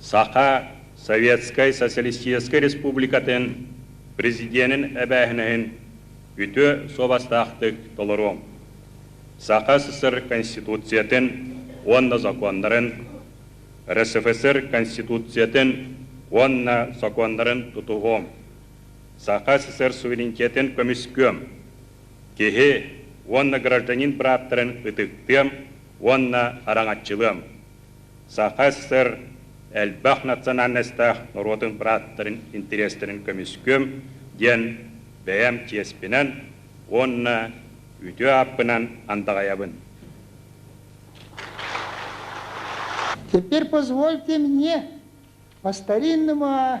Саха Советскай Социалистическай Республикатын Президенин эбээһинэһин үтүө суобастаахтык толоруоҥ! Саха СССР Конституциятын уонна законнарын, РСФСР Конституциятын уонна сокуоннарын тутуһуоҥ! Саха СССР суверенитетын көмүскүөм! Киһи уонна гражданин бырааптарын ытыктыам уонна хараҥаччылыам! Саха СССР элбэх национальностаах норуотун бырааттарын интэриэстэрин көмүскүөм диэн бэйэм чиэспинэн уонна үтүө ааппынан андаҕайабын. Теперь позвольте мне по-старинному